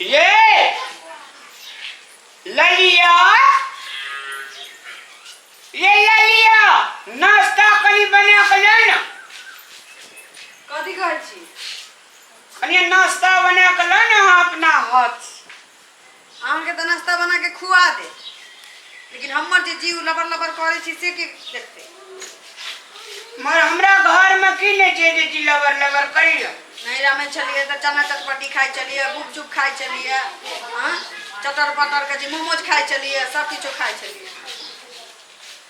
Yee! ललिया ये ललिया नाश्ता कनी बना के ले ना कथी कहै छी कनी नाश्ता बना के ले ना अहाँ अपना हाथ से। अहाँ के त नाश्ता बना के खुआ दे लेकिन हमर जे जीव लबर लबर करे छी से के देखते मगर हमरा घर में की नहीं छे जे जी लबर लबर करी लो नैरा में चलिए तो चना चटपटी खाए चलिए गुपचुप खाए चलिए हाँ चटर पटर के जी मोमोज खाए चलिए सब किछो खाए चलिए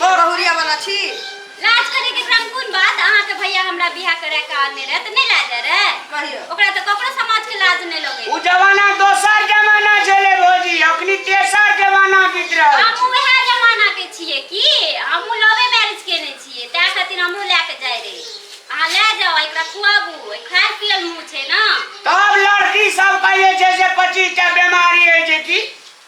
बहुरिया वाला छी लाज करे के क्रम कोन बात अहाँ के भैया हमरा बियाह करे के आने रहे त नहीं लाज रहे कहियो ओकरा त ककरो समाज के लाज नहीं लगे उ जमाना दोसर जमाना छले भौजी अखनी तेसर जमाना बीत रहल हम छै। वह जमाना के छिए की हम लवे मैरिज केने छिए ता खातिर हम ले के जाय रहे अहाँ ले जाओ एकरा खुआबू खाय पियल मुंह छै ना तब लड़की सब कहे छै जे पच्चीस टा बीमारी है जे की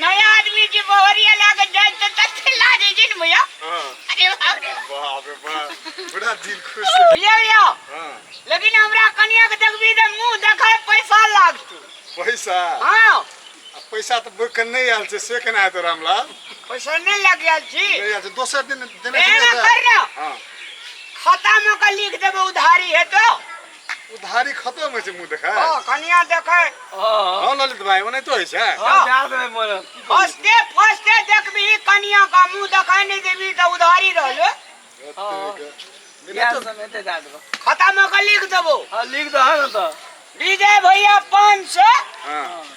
नया आदमी जी बहरिया लागे जाए तो तत्ते लाजे जी ने भैया हाँ अरे बाप रे बाप रे बाप बड़ा दिल खुश हो भैया भैया हाँ लेकिन हमरा कनिया के देखबी त मुंह देखाय पैसा लागतू पैसा हां आ पैसा तो बुक नहीं आयल से से केना हेतौ रामलाल पैसा नहीं लग गेल छी नहीं आयल से दोसर दिन देने एना छलियै कर तऽ ना हाँ खाता में का लिख देबे उधारी हेतो उधारी खतम होइ छै मुंह देखै ओ कनिया देखै हां ललित भाई ओने तो होइ छै हां जा दे मोर फर्स्टे फर्स्टे देखबी कनिया का मुंह देखै नै देबी त उधारी रहलो खतम हो लिख देबो हां लिख दह न त विजय भैया 500 हां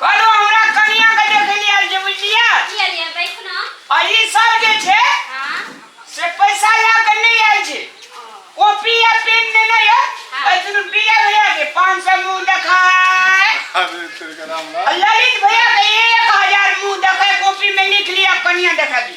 कहलहुँ हमरा कनियाँके देखै लए आयल छै बुझलियै की अलिया बैठ ना आ ई सब जे छै हां से पैसा लए कऽ नहि आयल छै कॉपी आ पेन नेने यऽ एहि दुनू बीजा भैया के पाँच सए मुँह देखाय अरे तेरे का राम राम आ ललित भैया के एक हजार मुँह देखाय कॉपी में लिख लिया कनियाँ देखा दी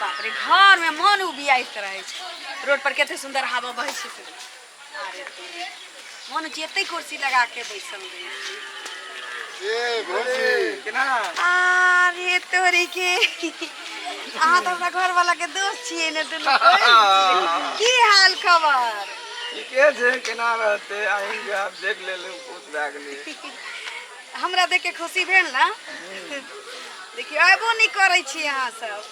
बाप रे घर में मन उबियाइत रहे छै रोड पर कते सुंदर हवा बहे छै से। अरे मन जेते कुर्सी लगा के बैसल रहे छै। ए भौजी केना अरे तोरी के अहाँ तऽ हमरा घर वाला के दोस्त छियै ने दुनू कोई। की हाल खबर ठीके छै केना रहते आएंगे आप देख ले लो कुछ भए गेलै हमरा देख के खुशी भेल ना देखियो आबो नहीं करे छी यहाँ सब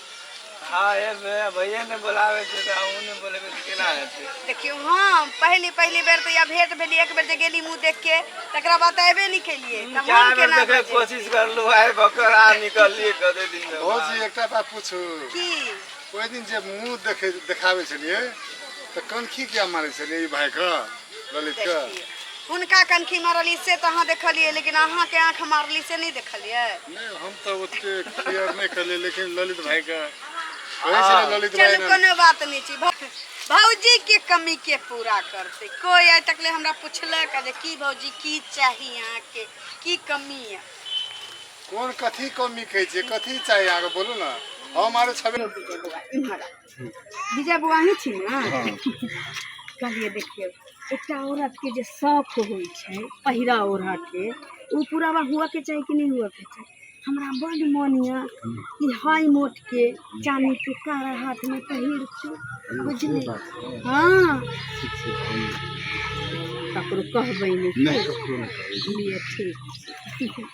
हाँ ये भैया भैया ने बुलावे थे तो हमू ने बोले तो केना हेते देखियो हाँ पहली पहली बेर तो या भेंट भेली एक बेर जे गेली मुंह देख के तकरा बाद आबे नहीं केलिए त चार हम बेर केना देखे बजे? कोशिश कर लो आए बकर आ निकल लिए कदे दिन में भौजी एकटा बात पूछू की ओहि दिन जे मुंह देखे देखाबै छलियै तऽ कनखी किया मारै छलियै ई भाइके ललितके हुनका कनखी मारली से तऽ अहाँ देखलियै लेकिन अहाँके आँख मारली से नहि देखलियै नहि हम तऽ ओते केयर नहि केलियै लेकिन ललित भाइके कहै छै ने ललित भाइ चलू ने कोनो बात नहि छै भौ- भौजी के कमी के पूरा करते कोई आइ तक ले हमरा पूछलक जे की भौजी की चाही अहाँ के की कमी है कोन कथी कमी कहै छै कथी चाही अहाँके बोलू ने हम आरो छबे विजय बौआ अहीं छी ने हँ कहलिए देखिए एकटा औरत के जे शौक होइ छै पहिरा ओढ़ा के ओ पूरा हुआ के चाही कि नहीं हुआ के चाही हमरा बड मन यऽ कि हाई मोट के चानी के कारा हाथ में पहिर के बुझली हाँ ककरो कहबै नहीं नहीं ककरो नहीं कहबै। ठीक छै